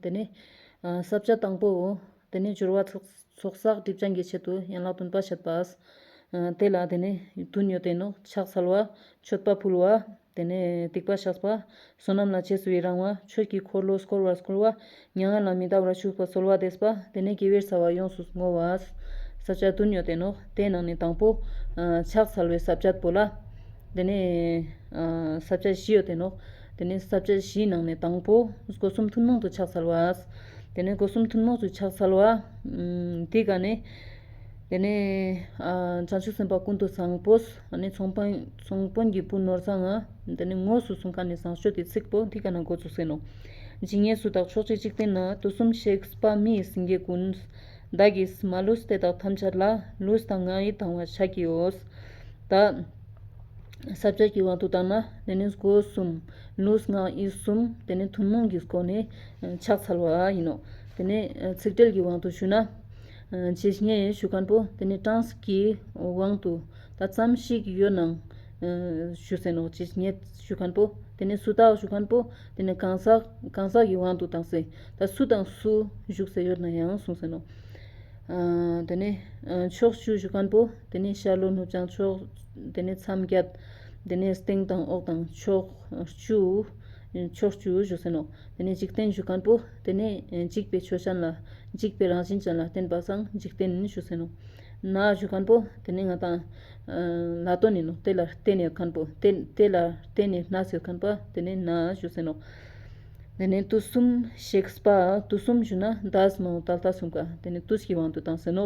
དེ་ནི། བསྲབ་བྱ་དང་པོའོ། དེ་ནི་སྦྱོར་བ། ཚོགས་བསགས་སྒྲིབ་སྦྱངས་ཀྱི་ཆེད་དུ་ཡན་ལག་བདུན་པ་བཤད་པ། དེ་ལ་དེ་ནི། དུ་ཉོ་བསྟེན་ནོ། ཕྱག་འཚལ་བ། མཆོད་པ་ཕུལ་བ། དེ་ནས་སྡིག་པ་བཤགས་པ། བསོད་ནམས་ལ་ཆས་སུ་ཡི་རང་བ། ཆོས་ཀྱི་འཁོར་ལོ་བསྐོར་བར་བསྐུལ་བ། མྱ་ངན་ལ་མི་འདའ་བར་བཞུགས་པ་གསོལ་བ་འདེབས་པ། དེ་ནས་དགེ་བའི་རྩ་བ་ཡོངས་སུ་བསྔོ་བ། བསྲབ་བྱ་དུ་ཉོ་བསྟེན་ནོ། དེའི་ནང་ནས་དང་པོ། ཕྱག་འཚལ་བའི་བསྲབ་བྱ་དཔོལ་ལ། དེ་ནས། བསྲབ་བྱ་བཞི་ཡོད་བསྟེན་ནོ། དེ་ནས་ཟབ་ཆ་བཞིའི་ནང་ནས་དང་པོ། སྒོ་གསུམ་ཐུན་མོང་དུ་ཕྱག་འཚལ་བ། དེ་ནས་སྒོ་གསུམ་ཐུན་མོང་དུ་ཕྱག་འཚལ་བ། དེ་དགའ་ནས། དེ་ནས། བྱང་ཆུབ་སེམས་དཔའ་ཀུན་ཏུ་བཟང་པོ། ཚོང་དཔོན་གྱི་བུ་ནོར་བཟང། དེ་ནས་དངོས་སུ་གསུང་ཁ་ནས་བཟང་སྤྱོད་དེ་ཚིག་པོ་དེ་དགའ་ན་འགོ་ཚུགས་ཟིན་ནོ། ཇི་སྙེད་སུ་དག་ཕྱོགས་བཅུའི་འཇིག་རྟེན་ན་དུག་གསུམ་གཤེགས་པ་མིའི་སེང་གེ་ཀུན། བདག་གིས་མ་བསླུས་དེ་དག་ཐམས་ཅད་ལ། བསླུས་དང་ང་ཡིས་དང་བ་བྱ་ཀྱིའོ། ད། ཟབ་ཆོས་ཀྱི་དབང་དུ་བཏང་ན་དེ་ནི་སྒོ་གསུམ། ལུས་ངག་ཡིད་གསུམ་དེ་ནི་ཐུན་མོང་གི་སྒོ་ནས་ཕྱག་འཚལ་བ་ཡིན་ནོ། དེ་ནས་ཚིག་འགྲེལ་གྱི་དབང་དུ་ཞུ་ན། ཇི་སྙེད་ཡོད་ཞུ་ཁང་པོ་དེ་ནི་གྲངས་གཟིགས་ཀྱི་དབང་དུ་ད་ཙམ་ཞིག་ཡོད་སྣང། ཞུ་བསྲན་ནོ་ཇི་སྙེད་ཞུ་ཁང་པོ་དེ་ནི་སུ་དག་ཞུ་ཁང་པོ་དེ་ནི་གང་ཟག་གང་ཟག་གི་དབང་དུ་བཏང་སྲིད་ད་སུ་དང་སུ་བཞུགས་ཟེར་ཡོད་ན་ཡང་གསུངས་བསྲན་ནོ། དེ་ནས་ཕྱོགས་བཅུའི་ཞུ་ཁང་པོ་དེ་ནི་ཤར་ལྷོ་ནུབ་བྱང་ཕྱོགས། དེ་ནས་མཚམས་བརྒྱད། དེ་ནས་སྟེང་དང་འོག་དང་ཕྱོགས་བཅུའི་བཞུགས་ཚུལ་ནོ། དེ་ནས་འཇིག་རྟེན་བཞུགས་ཁང་པོ། དེ་ནས་འཇིག་པའི་ཆོས་ཅན་ལ། འཇིག་པའི་རང་བཞིན་ཅན་ལ་བརྟེན་པ་སངས་འཇིག་རྟེན་བཞུགས་ཚུལ་ནོ། ནང་བཞུགས་ཁང་པོ། དེ་ནས་ང་དང། ལ་སྟོད་ནས་ནོ། དེ་ལ་བརྟེན་ནས་ཁང་པོ། དེ་ལ་བརྟེན་ནས་ནགས་ཚལ་ཁང་པ། དེ་ནས་ནང་བཞུགས་ཚུལ་ནོ། དེ་ནས་དུས་གསུམ་གཤེགས་པ། དུས་གསུམ་བཞུགས་ན་བདག་སྨྲའོ་ད་ལྟ་གསུངས་ཀ། དེ་ནས་དུས་ཀྱི་དབང་དུ་བཏང་ཟིན་ནོ།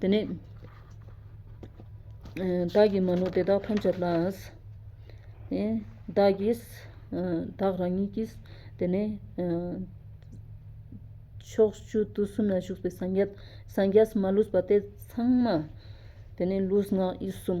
དེ་ནས། བདག་གིས་མ་ནོར་དེ་དག་ཐམས་ཅད་ལགས། བདག་གིས། བདག་རང་ཉིད་ཀྱིས། དེ་ནས། ཕྱོགས་བཅུ་དུས་གསུམ་ན་བཞུགས་པའི་སངས་རྒྱས། སངས་རྒྱས་སུ་མ་ལུས་པ་དེ་ཚང་མ། དེ་ནས་ལུས་ངག་ཡིད་གསུམ།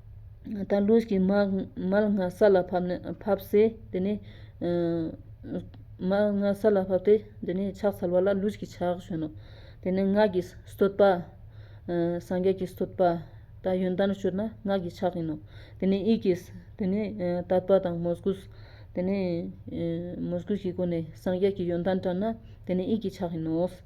དང་ལུས་ཀྱི་མལ་ང་ས་ལ་བབས་ཚེ་དེ་ནི། མལ་ང་ས་ལ་བབས་ཏེ་དེ་ནི་ཕྱག་འཚལ་བ་ལ་ལུས་ཀྱི་ཕྱག་གཞོན་ནོ། དེ་ནས་སྔགས་ཀྱི་སྟོད་པ། སངས་རྒྱས་ཀྱི་སྟོད་པ། དང་ཡོན་ཏན་སྤྱོད་ན་སྔགས་ཀྱི་ཕྱག་ཡིན་ནོ། དེ་ནས་དབྱིག་གི། དེ་ནི་དད་པ་དང་མོས་གུས། དེ་ནི་མོས་གུས་ཀྱི་སྒོ་ནས་སངས་རྒྱས་ཀྱི་ཡོན་ཏན་བཀྲལ་ན་དེ་ནི་དབྱིག་གི་ཕྱག་ཡིན་ནོ།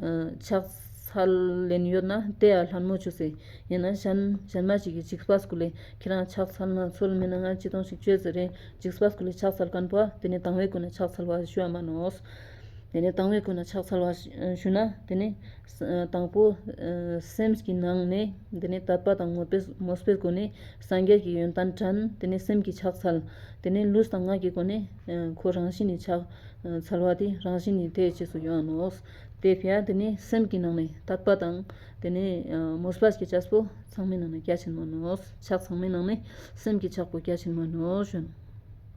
ཕྱག་འཚལ་ལན་ཡོད་ན་དེ་ཡང་ལྷ་མོ་ཆུ་སྲིན་ཡིན་ན་གཞན། གཞན་མ་ཞིག་གིས་ཅིག་སྤ་སྐུ་ལས་ཁྱེད་རང་ཕྱག་འཚལ་ན་ཚོལ་མིན་ན་ང་ཅི་གཏོང་ཞིག་བྱོས་ཟེར་རིང་ཅིག་སྤ་སྐུ་ལས་ཕྱག་འཚལ་གང་པོ་དེ་ནས་དང་བའི་སྐུ་ན་ཕྱག་འཚལ་བ་ཞུ་བ་མ་ནོ། དེ་ནས་དང་བའི་སྐུ་ན་ཕྱག་འཚལ་བ་ཞུ་ན་དེ་ནི། དང་པོ། སེམས་ཀྱི་ནང་ནས་དེ་ནི་དད་པ་དང་ངོ་སྤེལ་མོས་པའི་སྒོ་ནས་སངས་རྒྱས་ཀྱི་ཡོན་ཏན་དྲན་དེ་ནས་སེམས་ཀྱི་ཕྱག་འཚལ། དེ་ནས་ལུས་དང་ངག་གི་སྒོ་ནས། ཁོ་རང་བཞིན་ནི་ཕྱག་འཚལ་བ་དེ་རང་བཞིན་ནི་དེའི་རྗེས་སུ་ཡོང་ནོ། དེ་ཕྱིར་དེ་ནི་སེམས་ཀྱི་ནང་ནས་དག་པ་དང། དེ་ནི་མོས་པ་བསྐྱེད་བྱ་སོ་ཚང་མའི་ནང་ནས་རྒྱ་ཆེན་མོ་ནོ། ཕྱག་ཚང་མའི་ནང་ནས་སེམས་ཀྱི་ཆགས་པ་རྒྱ་ཆེན་མོ་ནོ།